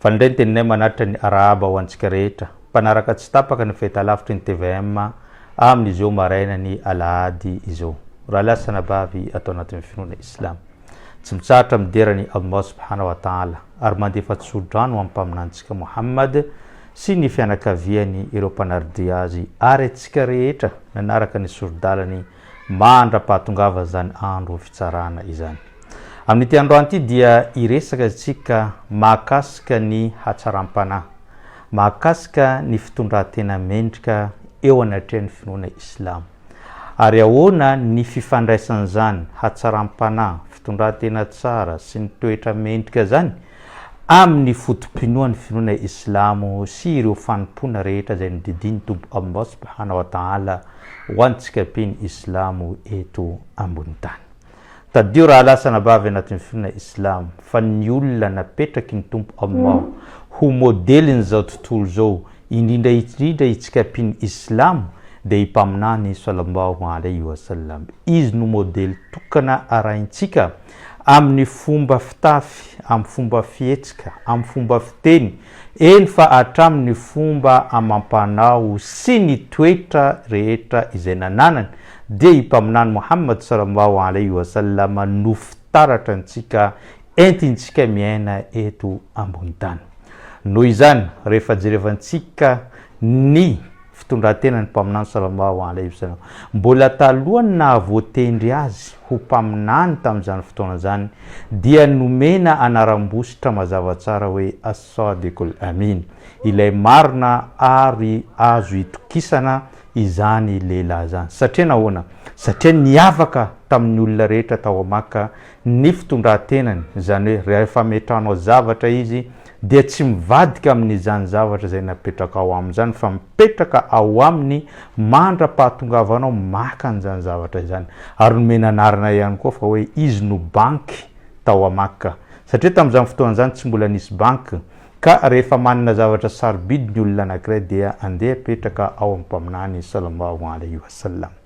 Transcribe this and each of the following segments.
Fa indray ny teninay manatitra ny arahaba ho antsika rehetra mpanaraka tsy tapaka ny fahita lavitry ny tvm amin izao maraina ny alahady izao raha lahy sy anabavy ato anatin ny finoana islam tsy mitsahatra midera ny Allah subhanahu wa ta'ala ary mandefa tso-drano am mpaminantsika Mohammad sy ny fianakaviany ireo mpanardia azy ary atsika rehetra nanaraka ny sori-dalany mandra-pahatongava izany andro fitsarana izany. Amin'ity androany ity dia hiresaka isika mahakasika ny hatsaram-panahy, mahakasika ny fitondran-tena mendrika eo anatrehan'ny finoana islamo, ary ahoana ny fifandraisan'izany hatsaram-panahy, fitondran-tena tsara sy ny toetra mendrika izany Amin'ny foto-pinoan'ny finoana islamo sy ireo fanompoana rehetra izay nodidian'ny Tompo Allah subhana wa ta'ala ho antsika mpino islamo eto ambony tany. Tadidio rahalahy sy anabavy anatin'ny finoana islamo fa ny olona napetraky ny Tompo Allah ho modelin'izao tontolo izao indrindra indrindra itsika mpino islamo dia i Mpaminany sallallahu alaihi wa sallam. Izy no modely tokana arahintsika. amin'ny fomba fitafy, amin'ny fomba fihetsika, amin'ny fomba fiteny, eny fa hatramin'ny fomba amam-panao sy ny toetra rehetra izay nananany, dia i Mpaminany Mohamad sallallahu alayhi wa sallam no fitaratra antsika entintsika miaina eto ambony tany. Noho izany, rehefa jerevantsika ny Fitondran-tenan'ny Mpaminany Salama ao Ala Ibsana. Mbola talohan'ny nahavoatendry azy ho mpaminany tamin'izany fotoana izany, dia nomena anaram-bositra mazava tsara hoe As-Sadiq al-Amin, Ilay Marina ary Azo Itokisana, izany lehilahy izany. Satria nahoana? Satria niavaka tamin'ny olona rehetra tao Makka ny fitondran-tenany, izany hoe rehefa ametrahanao zavatra izy dia tsy mivadika amin'izany zavatra izay napetrakao aminy izany fa mipetraka ao aminy mandra-pahatongavanao maka an'izany zavatra izany. Ary nomena anarana ihany koa fa hoe izy no banky tao à Makka. Satria tamin'izany fotoana izany tsy mbola nisy banky, ka rehefa manana zavatra sarobidy ny olona anankiray dia andeha apetraka ao amin'ny Mpaminany, Sallallahu Alayhi Wa Sallam.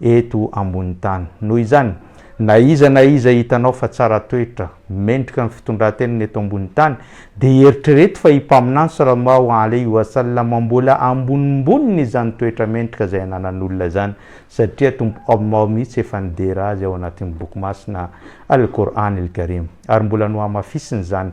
eto ambonin'ny tany. Noho izany, na iza na iza hitanao fa tsara toetra, mendrika ny fitondran-tenany eto ambonin'ny tany, dia eritrereto fa i Mpaminany Salamo Alehi wa Sallam mbola ambonimboniny izany toetra mendrika izay ananan'olona izany, satria Tompo Allah mihitsy efa nidera azy ao anatin'ny Boky Masina Al-Qur'an Al-Karim, ary mbola nohamafisiny izany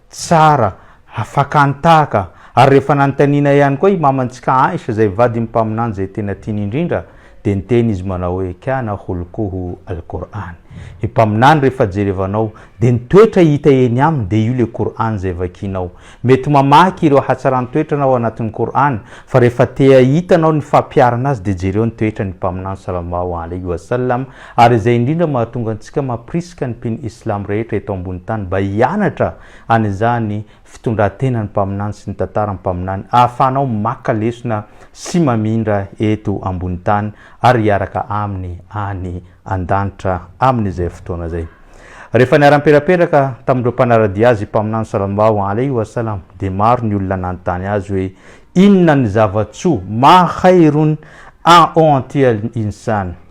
Tsara, afaka nitahaka, ary rehefa nanontaniana ihany koa i mamantsika Aisha izay vadin'ny Mpaminany izay tena tiany indrindra, dia niteny izy manao hoe, Kana khulquhu Al-Qur'an. I Mpaminany rehefa jerevanao dia ny toetra hita eny aminy dia io ilay Qur'an izay vakianao. Mety mamaky ireo hatsaran-toetra anao ao anatin'ny Qur'an, fa rehefa te hahita anao ny fampiharana azy dia jereo ny toetran'ny Mpaminany Sallallahu Alaihi Wasallam Ary izay indrindra mahatonga antsika mampirisika ny mpino Islam rehetra eto ambony tany mba hianatra an'izany fitondran-tenan'ny Mpaminany sy ny tantaran'ny Mpaminany ahafahanao maka lesona sy mamindra eto ambony tany ary hiaraka Aminy any an-danitra amin'izay fotoana izay. Rehefa niara-niperaperaka tamin'ireo mpanara-dia Azy i Mpaminany Sallallahu alaihi wa sallam dia maro ny olona nanontany Azy hoe, Inona ny zava-tsoa, ma khairun, a o anti al-insan?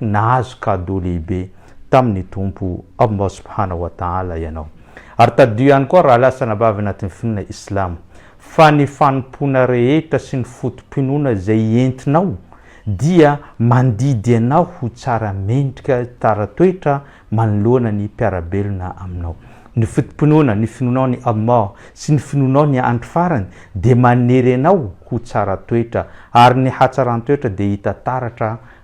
Nahazo cadeau lehibe tamin'ny Tompo, Allah Subhanahu wa Ta'ala, ianao. Ary tadidio ihany koa raha lasa anabavy anatin'ny finoana Islamo, fa ny fanompoana rehetra sy ny foto-pinoana izay entinao dia mandidy anao ho tsara mendrika, tsara toetra manoloana ny mpiara-belona aminao. Ny foto-pinoana, ny finoanao an'i Allah sy ny finoanao ny andro farany dia manery anao ho tsara toetra, ary ny hatsaran-toetra dia hita taratra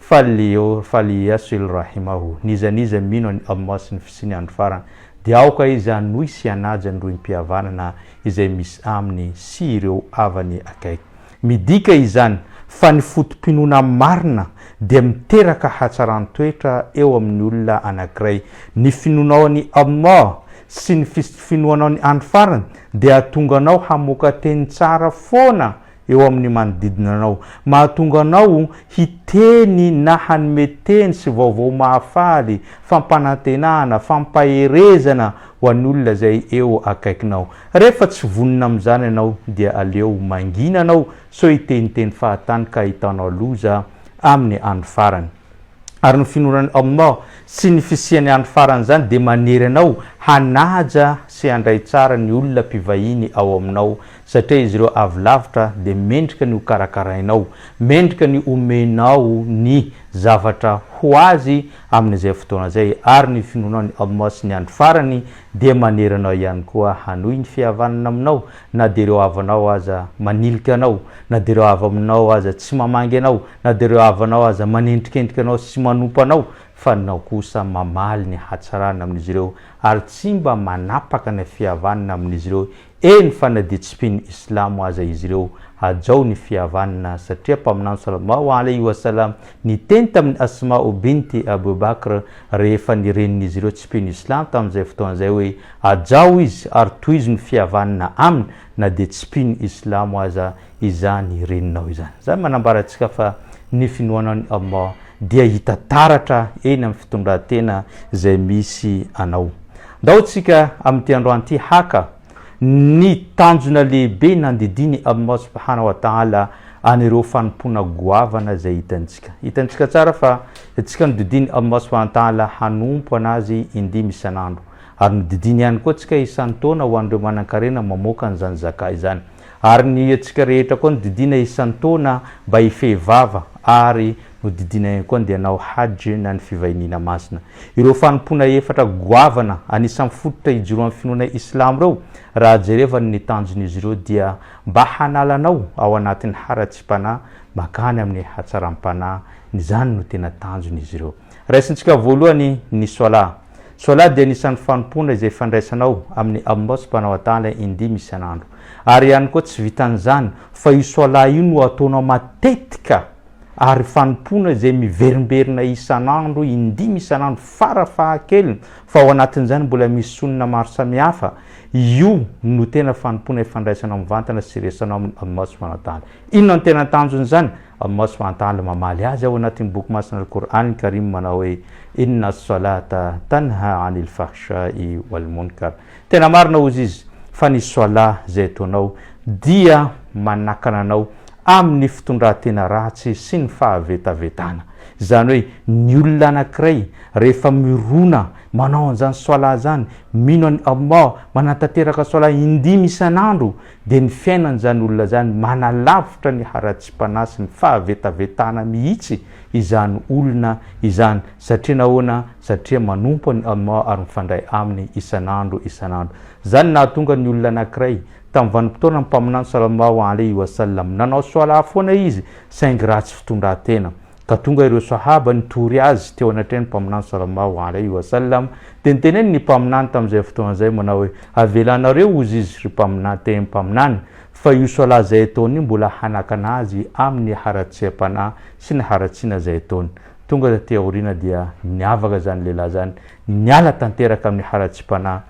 Fallio falliasil rahimahu, n'iza n'iza mino an'i Allah sy ny fisian'ny andro farany, dia aoka izy hanohy sy hanaja ny rohim-pihavanana izay misy aminy sy ireo havany akaiky. Midika izany fa ny foto-pinoana marina dia miteraka hatsaran-toetra eo amin'ny olona anankiray. Ny finoanao an'i Allah sy ny fis-finoanao ny andro farany dia hahatonga anao hamoaka teny tsara foana eo amin'ny manodidina anao, mahatonga anao hiteny na hanome teny sy vaovao mahafaly, fampanantenana, fampaherezana ho an'olona izay eo akaikinao. Rehefa tsy vonona amin'izany ianao, dia aleo mangina anao sao hiteniteny fahatany ka ahitanao loza amin'ny andro farany. Ary ny finoanan'i Allah sy ny fisian'ny andro farany izany dia manery anao hanaja sy handray tsara ny olona mpivahiny ao aminao Satria izy ireo avy lavitra dia mendrika ny hokarakarainao, mendrika ny homenao ny zavatra ho azy amin'izay fotoana izay, ary ny finoanao an'i Allah sy ny Andro Farany dia manery anao ihany koa hanohy ny fihavanana aminao, na dia ireo havanao aza manilika anao, na dia ireo havaminao aza tsy mamangy anao, na dia ireo havanao aza manendrikendrika anao sy manompa anao, fa anao kosa mamaly ny hatsarana amin'izy ireo ary tsy mba manapaka ny fihavanana amin'izy ireo Eny fa na dia tsy mpino islamo aza izy ireo, hajao ny fihavanana satria mpaminany Sallallahu alaihi wa sallam niteny tamin'i Asma'u bint Abu Bakr rehefa ny renin'izy ireo tsy mpino islamo tamin'izay fotoana izay hoe, hajao izy ary tohizo ny fihavanana aminy na dia tsy mpino islamo aza izany reninao izany. Izany manambara antsika fa ny finoana an'i Allah dia hita taratra eny amin'ny fitondran-tena izay misy anao. Ndao tsika amin'ity androany ity haka ny tanjona lehibe nandidian'i Allah Subhanahu wa Ta'ala an'ireo fanompoana goavana izay hitantsika. Hitantsika tsara fa tsika nodidian'i Allah Subhanahu wa Ta'ala hanompo an'Azy indimy isan'andro. Ary nodidiany ihany koa tsika isan-taona ho an'ireo manan-karena mamoaka an'izany Zakah izany. Ary ny antsika rehetra koa nodidiana isan-taona mba hifehy vava ary nodidiana ihany koa ndeha hanao Hajj na ny fivahiniana masina. Ireo fanompoana efatra goavana anisan'ny fototra ijoroan'ny finoana Islamo ireo, raha jereva ny tanjon'izy ireo dia mba hanala anao ao anatin'ny haratsiam-panahy mankany amin'ny hatsaram-panahy, izany no tena tanjon'izy ireo. Raisintsika voalohany ny Swala. Sola dia anisan'ny fanompoana izay fandraisanao amin'ny Ammos mpanao adala indimy isan'andro. Ary ihany koa tsy vitan'izany fa io Sola io no ataonao matetika ary fanompoana izay miverimberina isan'andro indimy isan'andro fara fahakeliny fa ao anatin'izany mbola misy sonona maro samihafa, io no tena fanompoana ifandraisanao mivantana sy iresanao amin'ny Ammos mpanao adala. Inona no tena tanjon'izany? Amin'ny maso fahantahana mamaly azy ao anatin'ny Boky masina Al-Qour'an al-Karim manao hoe, Inna as-salata tanha 'anil fahsha'i wal-munkar. Tena marina hozy izy fa ny Salah izay ataonao dia manakana anao amin'ny fitondran-tena ratsy sy ny fahavetavetana. Izany hoe ny olona anankiray rehefa mirona manao an'izany Salah izany, mino an'i Allah, manatanteraka Salah indimy isan'andro, dia ny fiainan'izany olona izany manalavitra ny haratsiam-panahy sy ny fahavetavetana mihitsy izany olona izany. Satria nahoana? Satria manompo an'i Allah ary mifandray Aminy isan'andro isan'andro. Izany nahatonga ny olona anankiray, tamin'ny vanim-potoana ny Mpaminany sallallahu alaihi wa sallam, nanao Swalah foana izy saingy ratsy fitondran-tena. Ka tonga ireo Sahaba nitory Azy teo anatrehan' ny Mpaminany salallahu alaihi wa sallam, dia niteneny ny Mpaminany tamin' izay fotoana izay manao hoe, Avelanareo hozy izy, ry Mpaminany, te Mpaminany, fa io Salat izay ataony io mbola hanakana azy amin' ny haratsiam-panahy sy ny haratsiana izay ataony. Tonga taty aoriana dia niavaka izany lehilahy izany, niala tanteraka amin' ny haratsiam-panahy,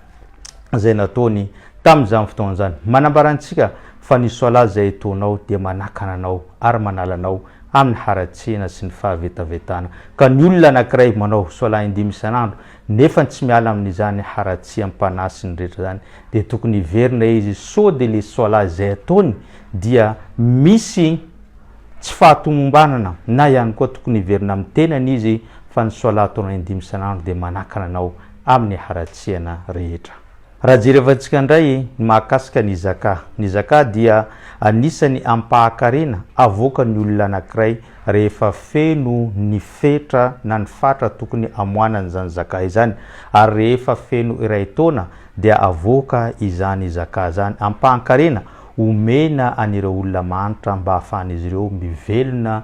izay nataony tamin'izany fotoana izany. Manambara antsika fa ny Soalahy izay etoanao dia manakana anao ary manala anao amin'ny haratsiana sy ny fahavetavetana. Ka ny olona anankiray manao Soalahy indimy isan'andro nefa tsy miala amin'izany haratsiam-panahy sy ny rehetra izany dia tokony hiverina izy sao dia ilay Soalahy izay ataony dia misy tsy fahatomombanana na ihany koa tokony hiverina amin'ny tenany izy fa ny Soalahy ataonao indimy isan'andro dia manakana anao amin'ny haratsiana rehetra. Raha jerevantsika indray ny mahakasika ny Zaka. Ny Zaka dia anisan'ny ampahakarena avoakan'ny olona anankiray rehefa feno ny fetra na ny fatra tokony amoanany izany Zaka izany ary rehefa feno iray taona dia avoaka izany Zaka izany ampahankarena omena an'ireo olona mahantra mba ahafahan'izy ireo mivelona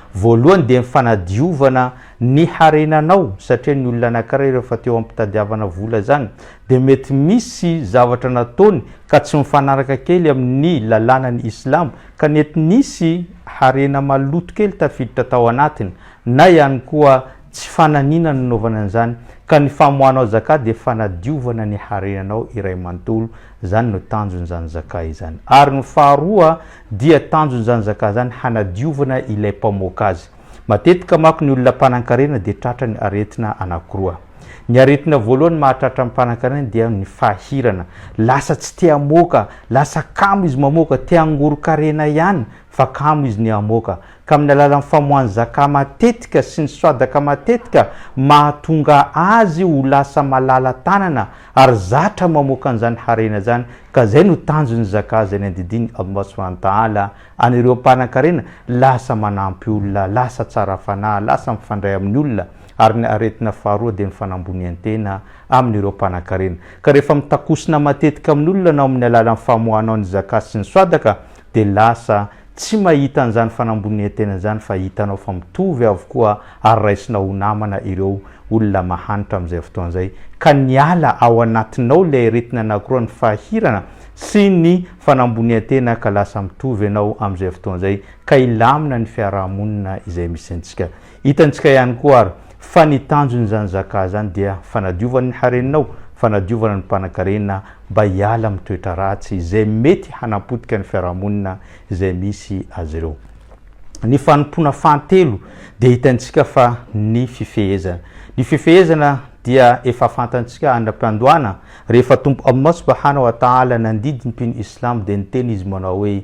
Voalohany dia ny fanadiovana ny harenanao satria ny olona anankiray rehefa teo ampitadiavana vola zany dia mety misy zavatra nataony ka tsy mifanaraka kely amin'ny lalànan'i Islam ka nety nisy harena maloto kely tafiditra tao anatiny na ihany koa tsy fananina no nanaovana an'izany ka ny famoahanao zaka dia fanadiovana ny harenanao iray manontolo zany no tanjon'izany zaka izany ary ny faharoa Dia tanjon'izany zakah izany hanadiovana ilay mpamoaka azy. Matetika manko ny olona mpanankarena dia tratra ny aretina anankiroa. Ny aretina voalohany mahatratra ny mpanankarena dia ny fahirana. Lasa tsy te hamoaka, lasa kamo izy mamoaka, te hangoron-karena ihany fa kamo izy ny hamoaka. Ka amin'ny alalan'ny famoahany zakah matetika sy ny swadaka matetika mahatonga azy ho lasa malala-tanana Ary zatra mamoaka an'izany harena izany ka izay no tanjon'ny Zakah izay nandidian'i Allah Subhanahu wa Ta'ala an'ireo mpanan-karena lasa manampy olona, lasa tsara fanahy, lasa mifandray amin'ny olona, ary ny aretina faharoa dia ny fanambonian-tena amin'ireo mpanan-karena. Ka rehefa mitakosina matetika amin'olona anao amin'ny alalan'ny famoahanao ny Zakah sy ny Swadaka dia lasa tsy mahita an'izany fanambonian-tena izany fa hitanao fa mitovy avokoa ary raisinao ho namana ireo olona mahantra amin'izay fotoana izay ka niala ao anatinao ilay aretina anakiroa ny fahirana sy ny fanambonian-tena ka lasa mitovy ianao amin'izay fotoana izay ka hilamina ny fiaraha-monina izay misy antsika Hitantsika ihany koa ary fa ny tanjon'izany Zakah izany dia fanadiovana ny harenao, fanadiovana ny mpanankarena mba hiala amin'ny toetra ratsy izay mety hanapotika ny fiarahamonina izay misy azy ireo. Ny fanompoana fahatelo dia hitantsika fa ny fifehezana. Ny fifehezana dia efa fantantsika andra-piandohana rehefa Tompo Allah Subahana wa Ta'ala nandidy ny mpino Islamo dia niteny Izy manao hoe,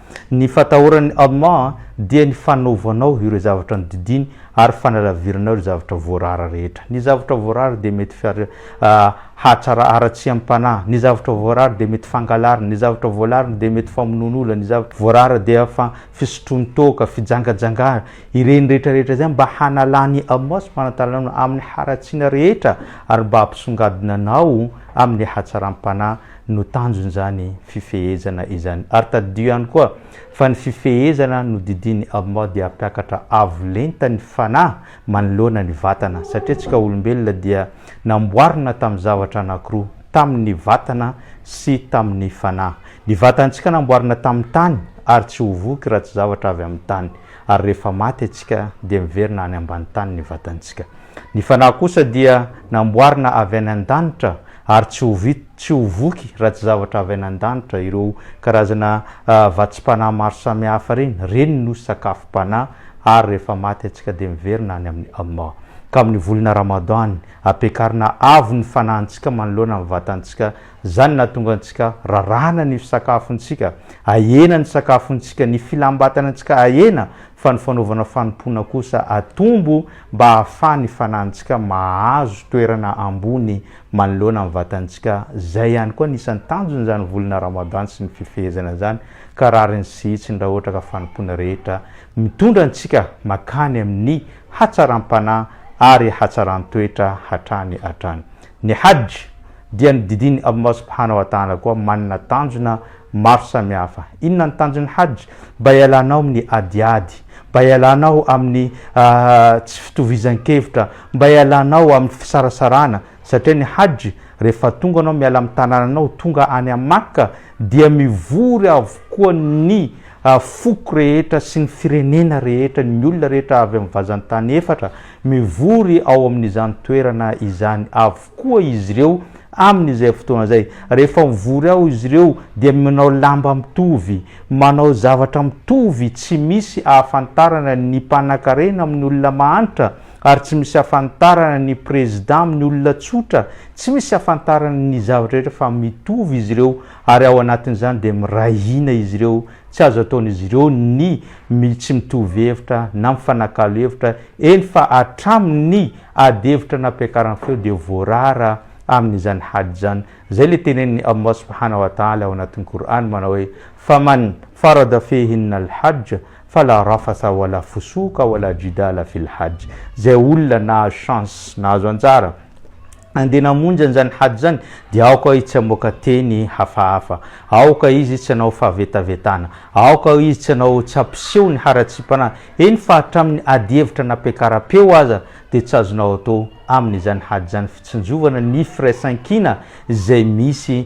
Ny fatahoran'ny Allah dia ny fanaovanao ireo zavatra nodidiany ary fanalaviranao ireo zavatra voarara rehetra. Ny zavatra voarara dia mety hahatsara haratsiam-panahy, ny zavatra voarara dia mety fangalarana, ny zavatra voalarana dia mety famonoan'olona, ny zavatra voarara dia fisotroan-toaka, fijangajangana. Ireny rehetra rehetra izany mba hanalan'i Allah subhanahu wa ta'ala anao amin'ny haratsiana rehetra ary mba hampisongadina anao amin'ny hatsaram-panahy. no tanjon'izany fifehezana izany. Ary tadidio ihany koa fa ny fifehezana nodidian'i Allah dia hampiakatra avo lenta ny fanahy manoloana ny vatana, satria antsika olombelona dia namboarina tamin'ny zavatra anankiroa, tamin'ny vatana sy tamin'ny fanahy. Ny vatantsika namboarina tamin'ny tany ary tsy ho voky raha tsy zavatra avy amin'ny tany. ary rehefa maty antsika dia miverina any ambany tany ny vatantsika. Ny fanahy kosa dia namboarina avy any an-danitra ary tsy ho vita, tsy ho voky raha tsy zavatra avy any an-danitra. Ireo karazana vatsim-panahy maro samihafa ireny, ireny no sakafom-panahy ary rehefa maty antsika dia miverina any amin'ny Allah. Ka amin'ny volana Ramadan, ampiakarina avo ny fanahintsika manoloana ny vatantsika Izany no nahatonga antsika raràna ny fisaakafontsika, ahena ny sakafontsika, ny filam-batana antsika ahena, fa ny fanaovana fanompoana kosa atombo mba hahafaha ny fanahintsika mahazo toerana ambony manoloana ny vatantsika, izay ihany koa anisan'ny tanjon'izany volana Ramadan sy ny fifehezana izany, ka rariny sy hitsiny raha ohatra ka fanompoana rehetra mitondra antsika makany amin'ny hatsaram-panahy ary hatsaran-toetra hatrany hatrany. Ny Hajj dia ny didin'i Allah subhanahu wa ta'ala koa manana tanjona maro samihafa. Inona ny tanjon'ny Hajj? Mba hialanao amin'ny adiady, mba hialanao amin'ny tsy fitovizan-kevitra, mba hialanao amin'ny fisarasarana, satria ny Hajj rehefa tonga anao miala amin'ny tanànanao tonga any Makka dia mivory avokoa ny foko rehetra sy ny firenena rehetra, ny olona rehetra avy amin'ny vazan-tany efatra, mivory ao amin'izany toerana izany avokoa izy ireo amin'izay fotoana izay. Rehefa mivory ao izy ireo dia manao lamba mitovy, manao zavatra mitovy, tsy misy ahafantarana ny mpanankarena amin'ny olona mahantra, Ary tsy misy afantarana ny président amin'ny olona tsotra, tsy misy afantarana ny zavatra rehetra fa mitovy izy ireo ary ao anatin'izany dia miray hina izy ireo, tsy azo ataon'izy ireo ny mi tsy mitovy hevitra na mifanakalo hevitra, eny fa hatramin'ny ady hevitra nampiakarany feo dia voarara amin'izany hady izany, izay ilay tenenin'i Allah subhanahu wa ta'ala ao anatin'ny Qur'an manao hoe, Faman farada fihin al hajja, Fa la rafatha wa la fusouqa wa la jidala fil hajj, zay olona nahazo chance, nahazo anjara, andeha namonjy an'izany hajj zany, dia aoka izy tsy hamoaka teny hafahafa, aoka izy tsy hanao fahavetavetana, aoka izy tsy hanao, tsy hampiseho ny haratsiam-panahy, eny fa hatramin'ny adihevitra nampiakaram-peo aza dia tsy azonao atao amin'izany hajj zany fitsinjovana ny firaisankina izay misy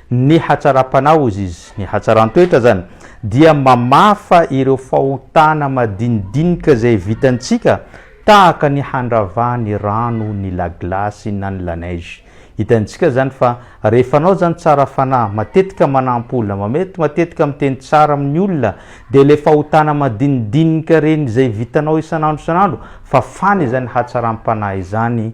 Ny hatsaram-panahy, hoy izy, ny hatsaran-toetra izany, dia mamafa ireo fahotana madinidinika izay vitantsika, tahaka ny handrava ny rano, ny la glace na ny la neige. Hitantsika izany fa rehefa anao izany tsara fanahy, matetika manampy olona, matetika miteny tsara amin'ny olona, dia ilay fahotana madinidinika ireny izay vitanao isan'andro isan'andro, fafana izany hatsaram-panahy izany.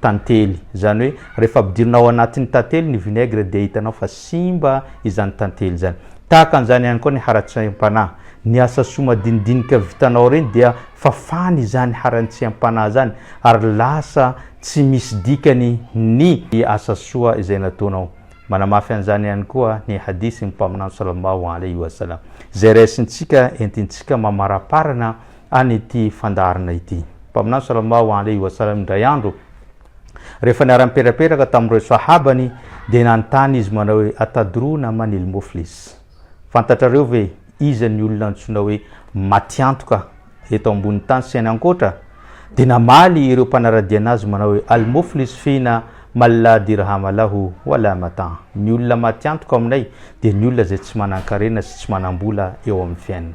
tantely, izany hoe rehefa ampidirina ao anatin'ny tantely ny vinaigre dia hitanao fa simba izany tantely izany. Tahaka an'izany ihany koa ny haratsiam-panahy, ny asa soa madinidinika vitanao ireny dia fafana izany haratsiam-panahy izany ary lasa tsy misy dikany ny asa soa izay nataonao. Manamafy an'izany ihany koa ny hadith ny Mpaminany Sallallahu Alaihi Wasallam izay raisintsika entintsika mamaraparana any ity fandaharana ity. Mpaminany Salallahu alaihi wa sallam indray andro rehefa niara-nipetrapetraka tamin'ireo sahabany dia nanontany izy manao hoe Atadrouna manil moflis? Fantatrareo ve iza ny olona antsoina hoe matiantoka eto ambonin'ny tany sy any ankoatra? Dia namaly ireo mpanaradia anazy manao hoe Al moflis fina man la dirhama lahu wa la mata'. Ny olona matiantoka aminay dia ny olona izay tsy manan-karena sy tsy manam-bola eo amin'ny fiainana.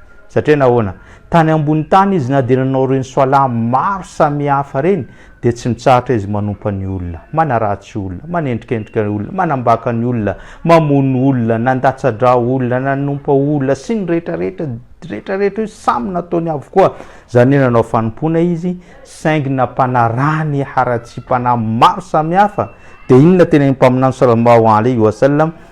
Satria nahoana? Tany ambony tany izy na dia nanao ireny soalahy maro samihafa ireny dia tsy mitsahatra izy manompa ny olona, manaratsy olona, manendrikendrika ny olona, manambaka ny olona, mamono olona, nandatsa-drà olona, nanompa olona sy ny rehetrarehetra, rehetrarehetra io samy nataony avokoa. Izany hoe nanao fanompoana izy saingy nampanarahany haratsiam-panahy maro samihafa. Dia inona tena ny mpaminany sallallahu alaihi wa sallam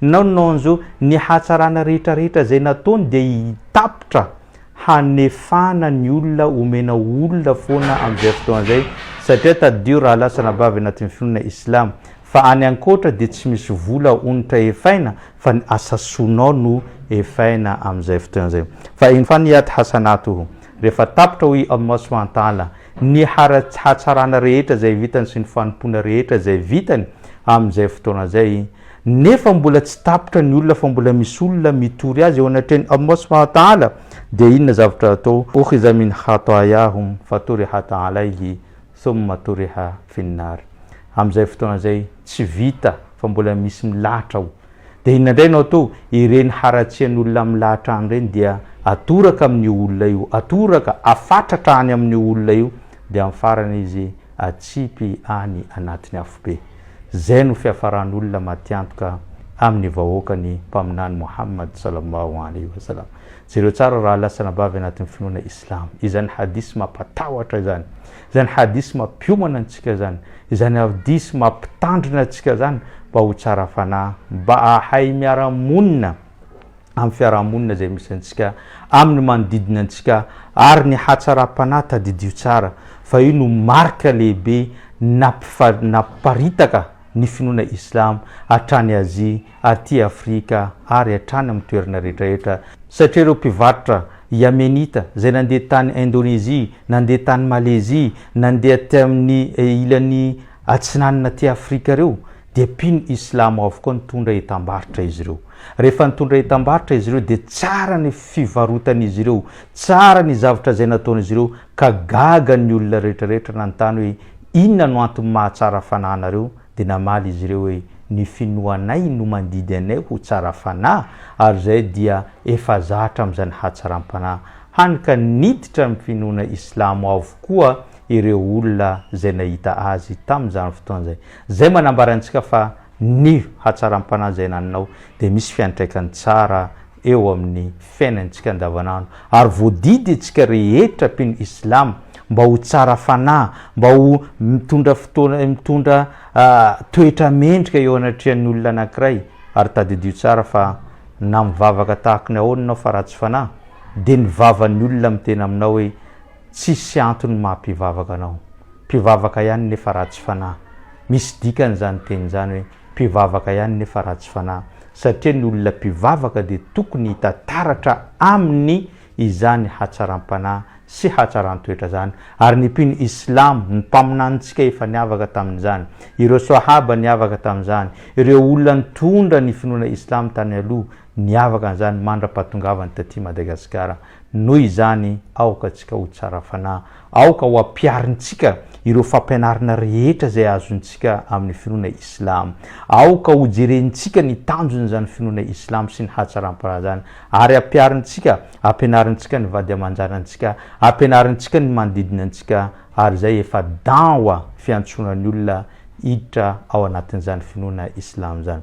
Non non zo, ny hatsarana rehetra rehetra zay nataony dia hitapitra hanefana ny olona omena olona foana amin'izay fotoana zay satria tadidio raha lasa anabavy anatin'ny finoana islam fa any ankoatra dia tsy misy vola onitra efaina fa ny asa soanao no efaina amin'izay fotoana zay fa in faniyat hasanatuhu rehefa tapitra hoy Allah subhanahu wa ta'ala ny haratsy hatsarana rehetra zay vitany sy ny fanompoana rehetra zay vitany amin'izay fotoana zay Nefa mbola tsy tapitra ny olona fa mbola misy olona mitory azy eo anatrehan'i Allah subhanahu wa ta'ala, dia inona zavatra atao? Ukhiza min khatayahum faturihat alayhi thumma turiha fin nar Amin'izay fotoana izay tsy vita fa mbola misy milahatra ao, dia inona indray no atao? Ireny haratsian'olona milahatra any ireny dia atoraka amin'io olona io, atoraka, afatratra any amin'io olona io, dia amin'ny farany izy atsipy any anatin'ny afobe. Izay no fiafaran'olona matiantoka amin'ny vahoakan'ny Mpaminany Mohammad sallallahu alayhi wa sallam. Jereo tsara rahalahy sy anabavy anatin'ny finoana Islamo, izany hadith mampatahotra izany, izany hadith mampiomana antsika izany, izany hadith mampitandrina antsika izany mba ho tsara fanahy, mba hahay miara-monina, amin'ny fiarahamonina izay misy antsika, amin'ny manodidina antsika ary ny hatsaram-panahy tadidio tsara fa io no marika lehibe namparitaka ny finoana Islam hatrany Azia, aty Afrika ary hatrany amin'ny toerana rehetrarehetra satria ireo mpivarotra Yamenita izay nandeha tany Indonezia, nandeha tany Malezia, nandeha aty amin'ny ilany atsinanana aty Afrika ireo, dia mpino islamo avokoa nitondra entam-barotra izy ireo. Rehefa nitondra entam-barotra izy ireo dia tsara ny fivarotan'izy ireo, tsara ny zavatra izay nataon'izy ireo ka gaga ny olona rehetrarehetra nanontany hoe inona no antony mahatsara fanahy anareo dia namaly izy ireo hoe ny finoanay no mandidy anay ho tsara fanahy ary izay dia efa zatra amin'izany hatsaram-panahy. Hany ka niditra ny finoana islamo avokoa ireo olona izay nahita azy tamin'izany fotoana izany. Izay manambara antsika fa ny hatsaram-panahy izay naninao dia misy fiantraikany tsara eo amin'ny fiainantsika andavanandro ary voadidy antsika rehetra mpino islam mba ho tsara fanahy, mba ho mitondra fotoana mitondra toetra mendrika eo anatrehan'ny olona anankiray ary tadidio tsara fa na mivavaka tahaka ny ahoana ianao fa ratsy fanahy dia ny vavan'ny olona miteny aminao hoe tsisy antony maha-mpivavaka anao Mpivavaka ihany nefa ratsy fanahy. Misy dikany izany teny izany hoe mpivavaka ihany nefa ratsy fanahy, satria ny olona mpivavaka dia tokony hita taratra aminy izany hatsaram-panahy sy hatsaran-toetra izany, ary ny mpino islamo, ny mpaminanintsika efa niavaka tamin'izany, ireo swahaba niavaka tamin'izany, ireo olona nitondra ny finoana islamo tany aloha niavaka an'izany mandra-pahatongavany taty Madagasikara. Noho izany, aoka antsika ho tsara fanahy. Aoka ho ampiharintsika ireo fampianarana rehetra izay azontsika amin'ny finoana islamo. Aoka hojerentsika ny tanjon'izany finoana islamo sy ny hatsaram-paharazany, ary ampiharintsika, ampianarintsika ny vady aman-janantsika, ampianarintsika ny manodidina antsika, ary izay efa da'wa, fiantsoana ny olona hiditra ao anatin'izany finoana islamo izany.